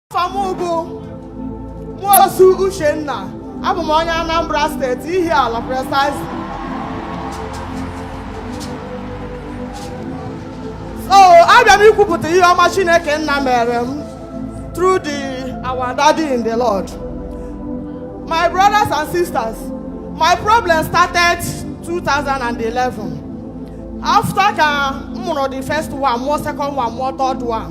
afa m bụ nwosu uchenna abụ m onye anambra state ihiala precisely so abịa m ikwupụta ihe ọma chineke nna meere m through the our daddy in the lord my brothers and sisters my problem started 2011 after ka m mụrụ the first one mụọ second one mụọ third one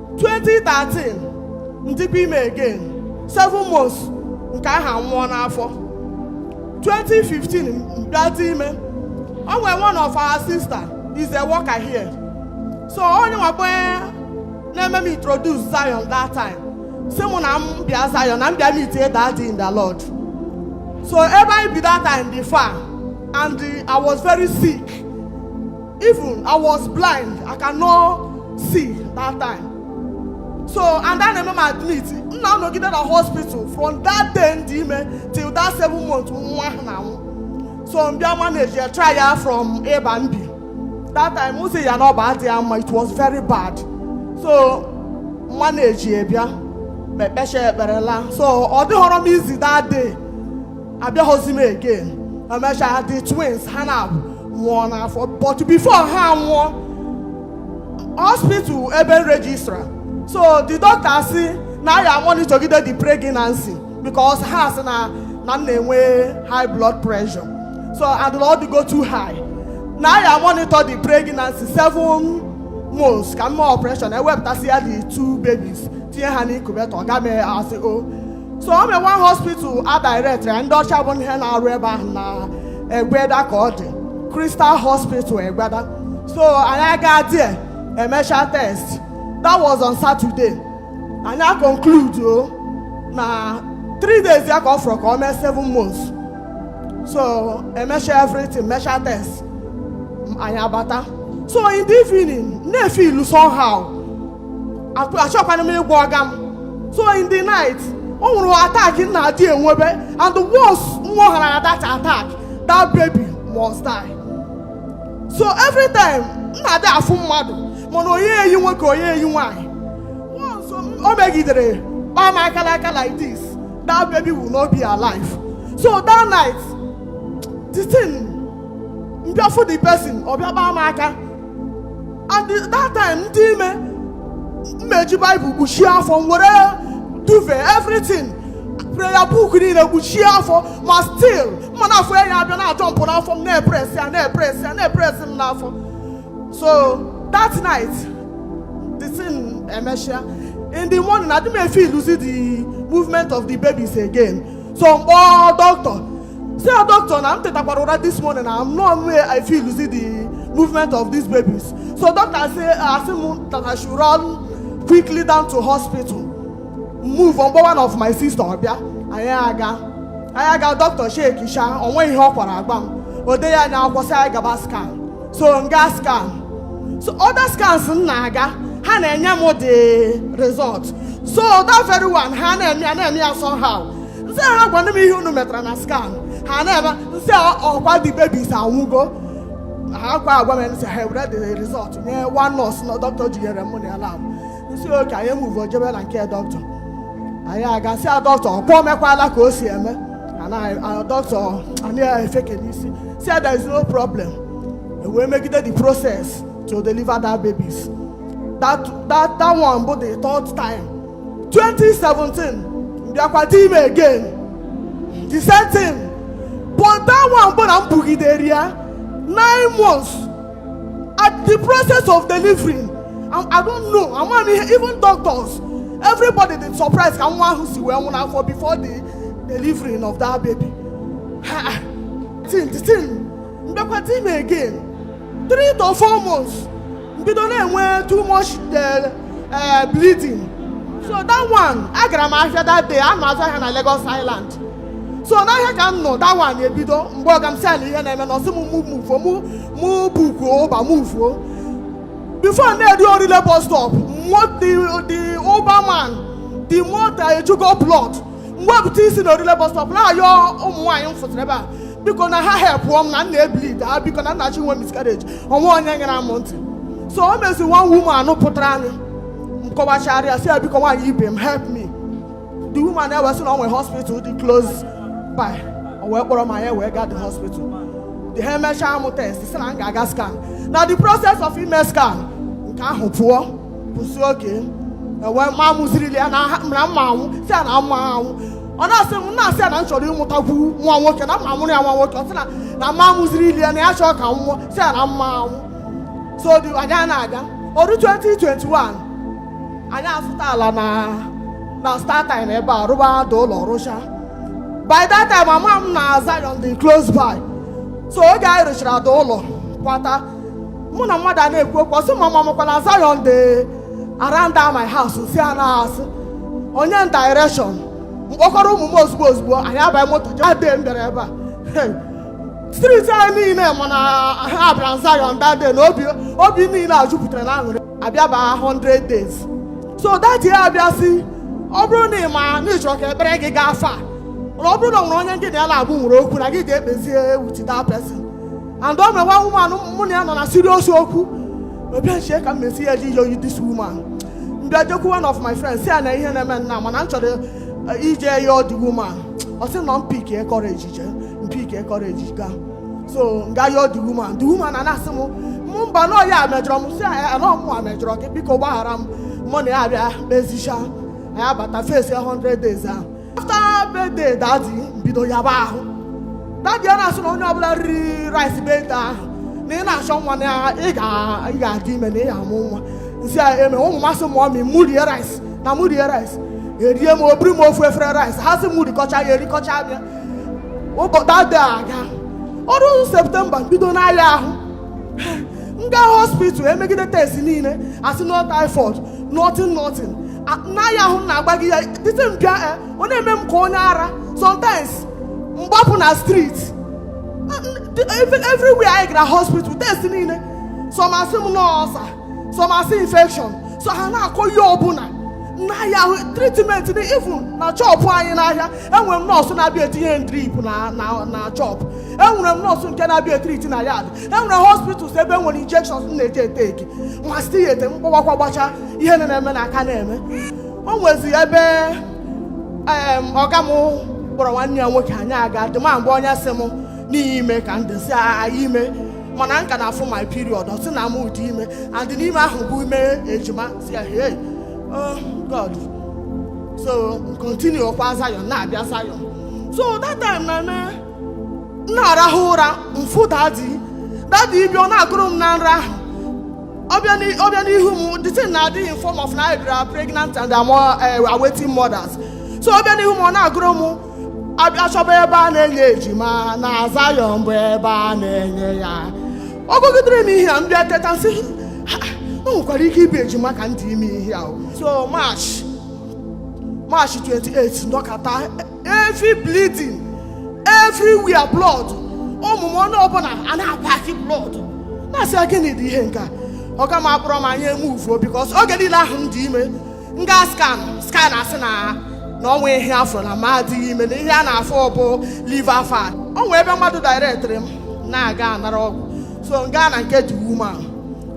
2013 m dịkwa ime again 7 months nke ahụ anwụọ n'afọ 2015 m bịa dị ime o nwere one of our sister is a worker here so onye nwakwe na-eme m introduce Zion that time sị mụ na m bịa Zion na m bịa meetie daddy in the Lord so ebe anyị bi that time dị far and I was very sick Even I was blind, I cannot see that time. So, and a na-eme m admit, m na-anọgide na hospital from that day m dị ime till that seven month nwa ahụ na-anwụ. So, m bịa manage ya try ya from ịba m bi. That time, m sị ya na ọ bụ adịghị mma, it was very bad. So, m manage ya bịa, m ekpechaa ekpere laa. So, ọ dịhọrọ m easy that day. abịahọzi m again emechaa the twins ha na nwụọ n'afọ but before ha nwụọ hospital ebe m registra so the doctor sị na ya monitorgide the pregnancy because ha sị na m na-enwe high blood pressure so and na ọ dịgo too high na ya monitor the pregnancy seven months ka m mee operation ewepụtasịa the two babies tinye ha n'incubator ga mee asị o so o nwe one hospital a direct anyị ndị ọcha bụ ndị na-arụ ebe ahụ na egbeda ka ọ dị crystal hospital egbeda so anyị aga there emecha test that was on saturday anyị a conclude o na three days ya ka ọ fọrọ ka ọ mee seven months so emecha everything mecha test anyị abata so in the evening m na-efeel somehow achọkwanụ m ịgwa ọga m so in the night o nwere attack m na-adị enwebe and once m nwehara that attack that baby must die so every time m na-adị afụ mmadụ mana ọ naghị eyi nwoke ọ naghị eyi nwaanyị once o megidere kpaa m aka l'aka like this that baby will not be alive so that night the thing m bịa afụ the person ọ bịa kpaa m aka and that time m dị ime m eji Bible kpuchie afọ m were duvet everything prayer book niile kpuchie afọ ma still m na-afụ ya ya abịa na-ajọmpụ n'afọ m na-epres ya na-epres ya na-epres m n'afọ so that night the thing emesịa in the morning adị m efeeluzi the movement of the babies again so m kpọọ doctor sị ya doctor na m tetakwara ụra this morning na anọ m efeelzi the movement of these babies so doctor asị m that i should run quickly down to hospital move m kpọọ one of my sister ọ bịa anyị aga anyị aga doctor echeckisha o nwe ihe ọ kwara agwa m o deye anyị akwụkwọ sị anyị gaba scan so m gaa scan so other scans m na-aga ha na-enye m the result so that very one ha na-eme ya na-eme ya somehow m sị ha gwanụ m ihe unu metara na scan ha na-eme m sị ọ kwa the babies anwụgo ha kwa agwa m m sị ha ewere the result nye one nurse na doctor jinyere m na ya lab m sị okay anyị amuvuo jebe na nke doctor anyị agaa sị ya doctor ọ kwa o mekwala ka o si eme doctor anyị efeke n'isi sị there is no problem ewee megide the process to deliver that babies that that that one bụ the third time 2017 m bịakwa dị ime again the same thing but that one bụ na m bugidere ya nine months at the process of delivering I, I don't know ama m ihe even doctors everybody dị surprise ka nwa ahụ si wee nwụ n'afọ before the delivering of that baby the thing m bịakwa dị ime again three to four months m bido na-enwe too much eh, eh, bleeding so that one agara m ahịa that day ana m azụ ahịa na Lagos Island so n'ahịa ka m nọ that one ebido m gwa ọga m sị nee ihe na-eme nụ ọ sị m mụ muvuo mụ mụ bukuo Uber muvuo before na-eru Orile bus stop the the Uber man the motor ejugo blood m wee pụtazie na Orile bus stop na-ayọ ụmụ nwaanyị m fụtara ebe a biko na ha helpụọ m na m na-ebleed ha biko na m na-achọ inwe miscarriage o nwe onye nyere m ntị so o mezie one woman pụtara anyị m kọwachara ya sị ya biko nwaanyị ibe m help me the woman ewee sị na o nwere hospital dị close by o wee kpọrọ m anyị wee gaa the hospital the ha emechaa m test sị na m ga-aga scan na the process of ime scan nke ahụ pụọ m sị okay ewe ma mụzirili ya na ha- na m ma anwụ sị ya na m ma anwụ ọ na-asị m na-asị ya na m chọrọ ịmụtakwu nwa nwoke na m ma-amụrụ ya nwa nwoke ọ sị na na m amụzirila ya na ya achọọ ka m nwụọ sị ya na m ma anwụ so dị anyị a na-aga o ruo 2021 anyị azụta ala na na startime ebe a rụba the ụlọ rụcha by that time ama m na Zion dị close by so oge anyị rụchara the ụlọ kwata mụ na mmadụ a na-ekwu okwu ọ sị m ma m makwa na Zion dị around that my house sị ya na-asị o nye m direction m kpọkọrọ ụmụ m ozugbo ozugbo anyị abaghị moto jee ade m bịara ebe a street anyị niile ma na m bịara Zion that day na obi obi niile a jupụtara na aṅụrị a bịa baa 100 days so that year a bịa sị ọ bụrụ na ị ma na ị chọrọ ka ekpere gị gaa far na ọ bụrụ na ọ nwere onye gị na ya na-abụ nwere okwu na gị gaa kpezie with that person and o nwere one woman mụ na ya nọ na serious okwu m bịa chee ka m ma-esi jee yọọ this woman m bịa jekwu one of my friends sị ya nee ihe na-eme nna mana m chọrọ eh, ije yọọ the woman ọ sị na m pick courage jee m pick courage gaa so m gaa yọọ the woman the woman a na-asị m mụ mba na ọ ya mejọrọ m sị ya na ọ mụa mejọrọ gị biko gbaghara m mụ na ya abịa kpezicha anyị abata face 100 days ahụ after birthday daddy m bido yaba ahụ daddy a na-asị na onye ọbụla riri rice birthday ahụ na ị na-achọ nwa na ị ga- ị ga-adị ime na ị ga-amụ nwa m sị amen ụmụ m asị mummy mụ rie rice na mụ rie rice erie m obiri m ofu efere rice ha sị m rikọcha ya erikọcha ya ụbọchị daddy agaa o ruo September bido na-aya ahụ m gaa hospital e megide test niile a sị no typhoid nothing nothing na-aya ahụ m na-agba gị ya the time bịa eh, ọ na-eme m ka onye ara sometimes m gbapụ na street everywhere anyị gara hospital test niile some asị m na ọ ulcer some asị infection so ha na-akọ ihe ọbụla na-aya ahụ treatment even na shop anyị n'ahịa enwere m nurse na-abịa etinye drip na shop enwere m nurse nke na-abịa e-treat na yard e nwere hospitals ebe e nwere injections na-eji 80k ma site ya ete m gbawakwa gbacha ihe na na-eme na-aka na-eme o nwezi ebe em, ọga m kpọrọ nwanne ya nwoke anyị aga dị ma mgbe onye sị m na ị dị ime ka m dịzi aghaa ime mana m ka na-afụ my period ọ sị na mụ dị ime and na ime ahụ bụ ime ejima sị ya hey oh god so continue kwa Zion na-abịa Zion so that time na-eme m na-arahụ ụra m fụ dadi dadi ibi ọ na-agụrụ m na nrọ ahụ ọ bịa n'i- ọ bịa n'ihu m the thing na-adị in form of na I bịara pregnant and awaiting mothers so ọ bịa n'ihu m ọ na-agụrụ m abịa chọba ebe a na-enye ejima na Zion bụ ebe a na-enye ya ọ gụgidere m ihe a m bịa teta m sị "Ha, o nwekwara ike ịbụ ejima ka m dị ime ihe a o." so March March 28 nọkata every bleeding everywhere blood ụmụ m onye ọbụla ana-apakị blood na-asị ya gịnị dị ihe nke a ọga m akpọrọ m anyị emuvuo because oge niile ahụ m dị ime m gaa scan scan asị na na o nweghị ihe a fụ na m adịghị ime na ihe a na-afụ bụ liver fat o nwee ebe mmadụ directịrị m na-aga anara ọgwụ so m gaa na nke the woman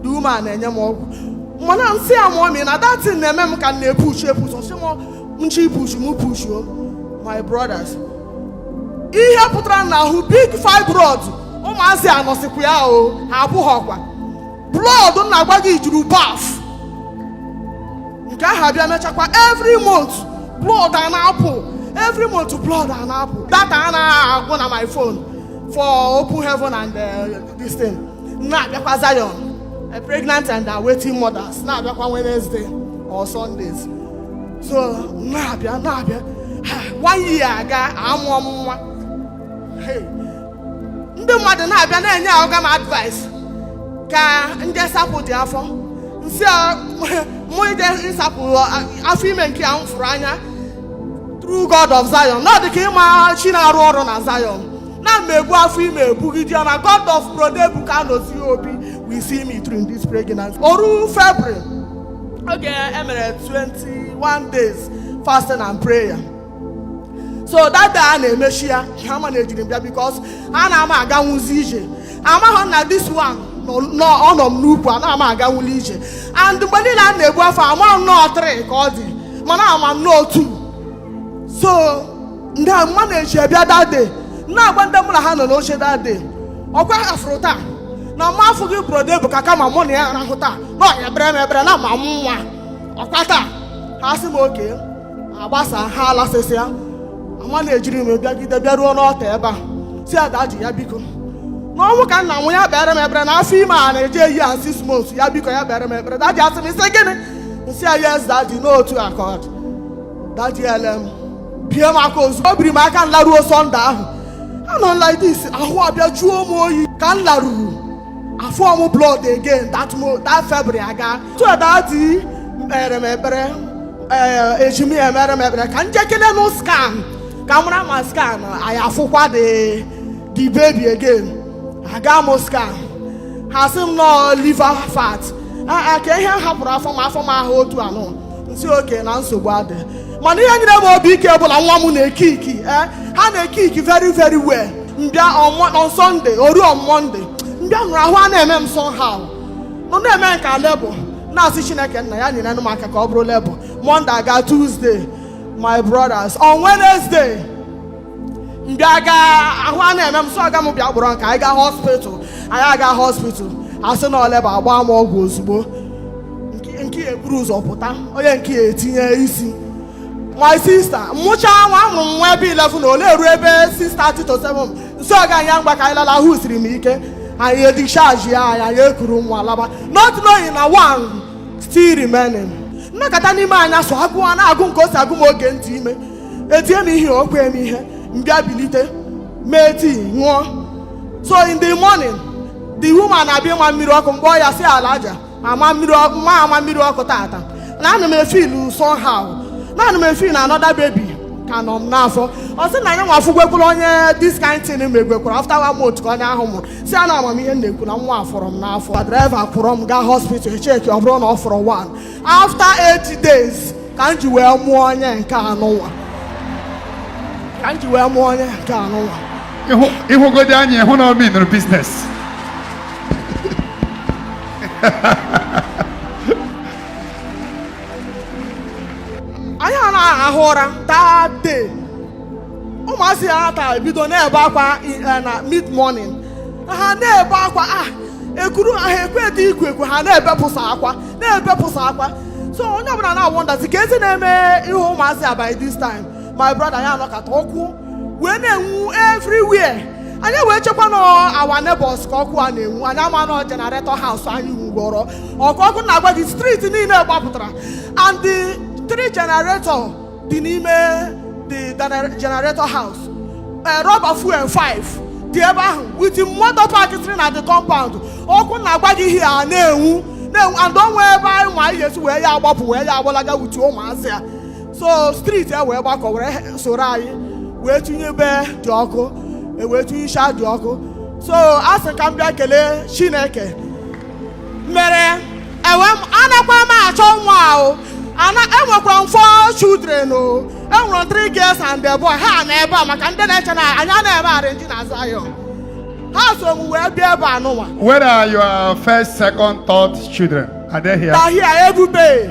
the woman na-enye m ọgwụ mana m sị ya mummy na that thing na-eme m ka m na-epushi epushi ọ sị m nchi push mụ push o my brothers ihe pụtara n'ahụ big fibroid ụmụazị anọsịkwa ya o ha apụghị ọkwa blood m na-agwa gị juru bath nke ahụ abịa mechakwa every month blood a na-apụ every month blood a na-apụ data anaghị agwụ na my phone for open heaven and uh, this thing na-abịakwa Zion a pregnant and awaiting mothers na-abịakwa Wednesday or Sundays so na-abịa na-abịa Ha, one year aga amụọ m nwa Hey, ndị mmadụ na-abịa na-enye ọga m advice ka m je sapụdị afọ m sị a, mụ ije ịsapụ afọ ime nke a m fụrụ anya through God of Zion na ọ dị ka ị ma chi na-arụ ọrụ na Zion na m ebu afọ ime ebugide ya na God of Brother Ebuka Anozie Obi will see me through this pregnancy o ruo February oge e mere 21 days fasting and prayer so that day a na-emechi ya amanejiri m bịa because anaghị m aganwuzi ije amaghị m na this one nọ- nọ ọ nọ m n'ukwu anaghị m aganwuli ije and mgbe niile m na-ebu afọ amaghị m na ọ 3 ka ọ dị mana ama m na ọ 2 so m bịa manejie bịa that day na-agwa ndị mụ na ha nọ n'oche that day ọkwa ha fụrụ taa na m afụghị Brother Ebuka kama mụ na ya rahụ taa na ọ ya-emere m ebere na m amụ nwa ọkwa taa ha sị m okay agbasa ha alasịsịa amanejiri m bịagide bịaruo n'altar ebe a sị Adaji ya biko na ọnwụ ka m na-anwụ ya meere m ebere na afọ ime a na-eje a year six months ya biko ya meere m ebere Adaji asị m ị sị gịnị m sị ya yes Adaji n'otu akọd Adaji ele m bie m aka ozugbo o biri m aka nlaruo Sunday ahụ anọ like this ahụ abịa juo m oyi ka m laruru afụ m blood again that mo that february aga so daddy kpere m ekpere ee eji m ya emere m ekpere ka njekele nụ scan ka m mara ma scan a ya afụkwa the the baby again aga m scan ha sị m nọ liver fat a a ka ihe m hapụrụ afọ m afọ m ahụ otu anụ m sị okay na nsogbu adị mana ihe nyere m obi ike bụ na nwa m na-ekiki eh, ha na-ekiki very very well m bịa on Sunday o ruo on Monday m bịa nọrọ ahụ a na-eme m somehow nọ na-eme m ka labour na-asị Chineke nna ya nyere m aka ka ọ bụrụ labour Monday aga Tuesday my brothers on Wednesday m bịa aga ahụ a na-eme m so ọga m bịa kpọrọ m ka anyị gaa hospital anyị aga hospital asị na ọ labour agba m ọgwụ ozugbo Nke- nke ya eburu ụzọ pụta onye nke ya etinye isi my sister m mụcha nwa amụrụ m nwa ebe 11 na ole eru ebe 6:30 to 7 m sị ọga anyị ngwa ka anyị lala ahụ siri m ike anyị edischarge ya anyị anyị ekuru nwa laba not knowing na one still remaining m nọkata n'ime anyasị agụụ a na-agụ m ka o si agụ m oge m dị ime etie m ihe o kwee m ihe m bịa bilite mee tii ṅụọ so in the morning the woman abịa ịma mmiri ọkụ mgbe ọ ya si ala aja ama m mmiri ọkụ taata na ana m efeel somehow na ana m efeel na another baby ka nọ m n'afọ ọ sị na ya nwa afụgwekwuru onye this kind thing megwekwuru after one month ka onye ahụ mụrụ sị ya na ama m ihe m na-ekwu na nwa fọrọ m n'afọ driver kwọrọ m gaa hospital e checkie ọ bụrụ na ọ fọrọ one after eight days ka m ji wee mụọ onye nke anụnwa ka m ji wee mụọ onye nke anụnwa ị hụ God anyị ị hụ na ọ meanụrụ business anyị arahụ ụra that day ụmụazị a na-ata ebido na-ebe akwa eh, na mid morning ha na-ebe akwa ah ekuru ha ekwedị iku eku ha na-ebepụsa akwa na-ebepụsa akwa so onye ọbụla na-awonderzi ka ezi na-eme ihe ụmụazị a by this time my brother anyị anọkata ọkụ wee na-enwu everywhere anyị wee chekwa na our neighbors ka ọkụ a na-enwu anyị ama na generator house anyị nwugoro ọkụ ọkụ m na-agwa gị street niile gbapụtara and the three generator dị n'ime the gener- generator house eh, rubber fuel 5 dị ebe ahụ with moto park siri na the compound ọkụ m na-agwa gị ihe a na-enwu na-enwu and o nwee ebe anyị nwa ya-esi wee ya agbapụ wee ya agbalaga with ụmụazị a so street e wee gbakọ were he- soro anyị wee tinyụbe the ọkụ e wee tinyụcha the ọkụ so a sị ka m bịa kelee chineke mere ewe m anakwa m achọ nwa ahụ enwekwara m four children o enwere three girls and a boy ha nọ ebe a maka ndị na-eche na anyị na-eme arrangee na Zion ha so m wee bịa ebe anụnwa Where are your first, second, third children? Are they here? They are here ebube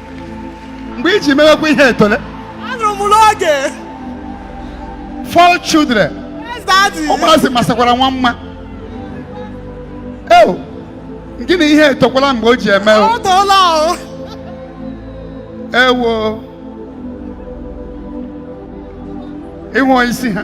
mgbe i ji mewekwa ihe etole anụrụ m n'oge four children yes daddy ụmụazị masakwara nwa mma eo gịnị ihe etokwala mgbe o ji eme o. ọ tọọla o ewo ị hụ isi ha